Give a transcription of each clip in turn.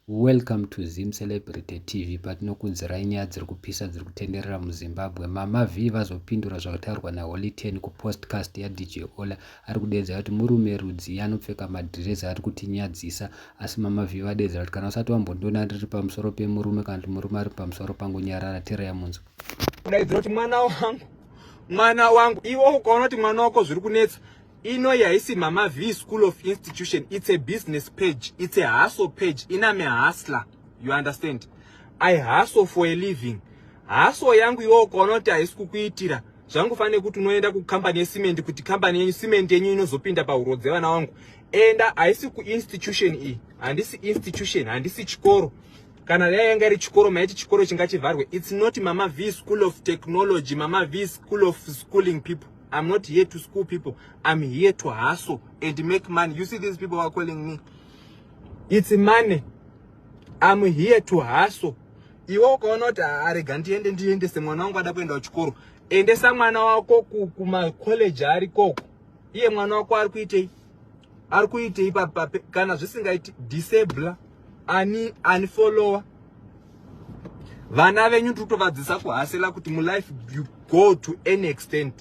Welcome to Zim Celebrity TV patinokudzirai nyaya dziri kupisa dziri kutenderera muZimbabwe. Mama Vee vazopindura zvakataurwa naHoly Ten kupostcast yaDJ Ola ari kudeedza kuti murume rudzii anopfeka madhirezi ari kutinyadzisa asi Mama Vee vadeedza kuti kana usati wambondiona ndiri pamusoro pemurume kana kuti murume ari pamusoro pangu nyarara tirai munzwa. Kudaidzira kuti mwana wangu mwana wangu iwe ukaona kuti mwana wako zviri kunetsa Inoyi haisi Mama V School of Institution, it's a business page, it's a hustle page, iname hustler, you understand? I hustle for a living. Hustle yangu iwo ukaona kuti haisi kukuitira, zvangu fanire kuti unoenda kucompany yesimende kuti company yenyu simende yenyu inozopinda pahuro dzevana wangu. Enda haisi kuinstitution iyi, handisi institution, handisi chikoro. Kana dai yanga iri chikoro maiti chikoro chingachivharwe. It's not Mama V School of Technology, Mama V School of Schooling people. I'm not here to school people. I'm here to hustle and make money. You see these people are calling me. It's money. I'm here to hustle. Iwe ukaona kuti arega ndiende ndiendese mwana wangu ada kuenda kuchikoro. Endesa mwana wako kuma college ari koko. Iye mwana wako ari kuitei? Ari kuitei kana zvisingaiti disable ani ani follower vana venyu tikutovadzisa kuhasela kuti mulife you go to any extent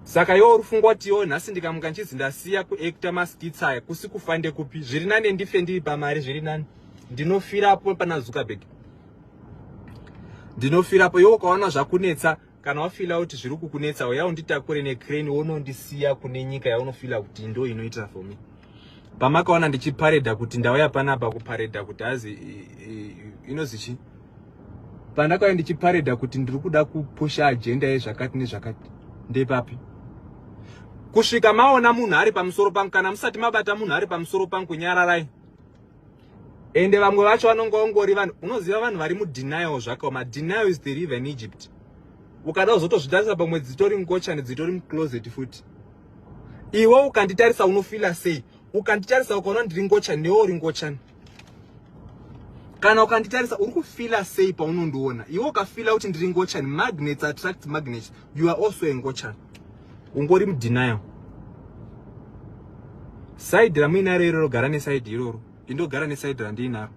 saka iwo uri fungwa kuti iwo nhasi ndikamuka ndichizi ndasiya kuacta maskits aya kusi kufa ndekupi zviri nani ndife ndiri pamari zviri nani ndinofirapo pana zuckerberg ndinofirapo iwo ukaona zvakunetsa kana wafila kuti zviri kukunetsa uya unditakure necrane wonondisiya kune nyika yaunofila kuti ndo inoita for me pamakaona ndichipareda kuti ndauya panapa kupareda kuti hazi inozi chii pandakauya ndichipareda kuti ndiri kuda kupusha ajenda yezvakati nezvakati ndepapi kusvika maona munhu ari pamusoro pangu kana musati mabata munhu ari pamusoro pangu nyararai ende vamwe vacho vanonga ungori vanhu unoziva vanhu vari mudenial zvakaoma denial is the river in egypt ukada kuzotozvitarisa pamwe dzitori ngochani dzitori mucloset futi iwe ukanditarisa unofila sei ukanditarisa ukaona ndiri ngochani newe uri ngochani kana ukanditarisa uri kufila sei paunondiona iwe ukafila kuti ndiri ngochani magnets attract magnets you are also a ngochani ungori mudenial side ramuinaro iroro gara neside iroro indogara neside randiinaro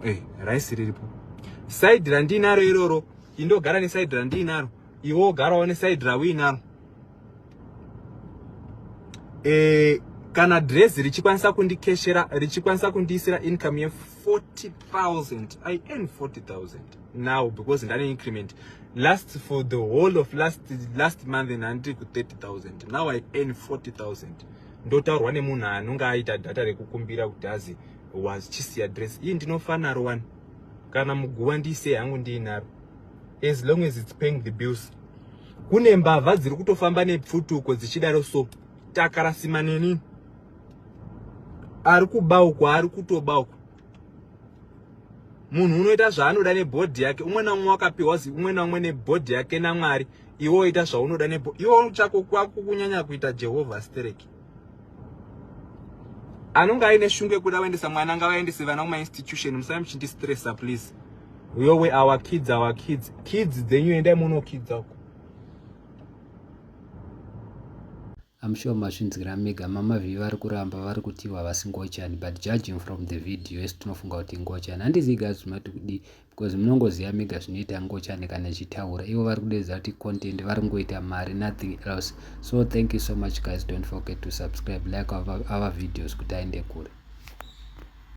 hey, eh, raisi riripo side randiinaro iroro indogara neside randiinaro iwe wogarawo neside rauinaro e, eh, kana dress richikwanisa kundikeshera richikwanisa kundiisira income 40000 i earn 40000 now because ndane increment last for the whole of last last month nhandiri ku 30000 now i earn 40000 ndotaurwa nemunhu anonge aita data rekukumbira kuti azi was chisi address iyi ndinofanaro wani kana muguva ndiise hangu ndiinaro as long as its paying the bills kune mbavha dziri kutofamba nepfutuko dzichidaro so takarasima nenini ari kuba uku ari kutoba uku munhu unoita zvaanoda nebhodhi yake umwe naumwe wakapiwa zi umwe naumwe nebhodhi yake namwari iwe oita zvaunoda nebo iwe chako kwako kunyanya kuita jehovha stereki anonge aine shungu yekuda vaendesa mwana ngavaendese vana kumainstitution musai muchindistressa please yowe our kids our kids kids dzenyu endai munokidza uko I'm sure mazvinzwira mega mama vhi vari kuramba vari kutiwa havasi ngochani but judging from the video esi tinofunga kuti ngochani handizii guys zvinoti kudii because munongoziva mega zvinoita ngochani kana ichitaura ivo vari kudedza kuti content vari kungoita mari nothing else so thank you so much guys don't forget to subscribe like our, our videos kuti aende kure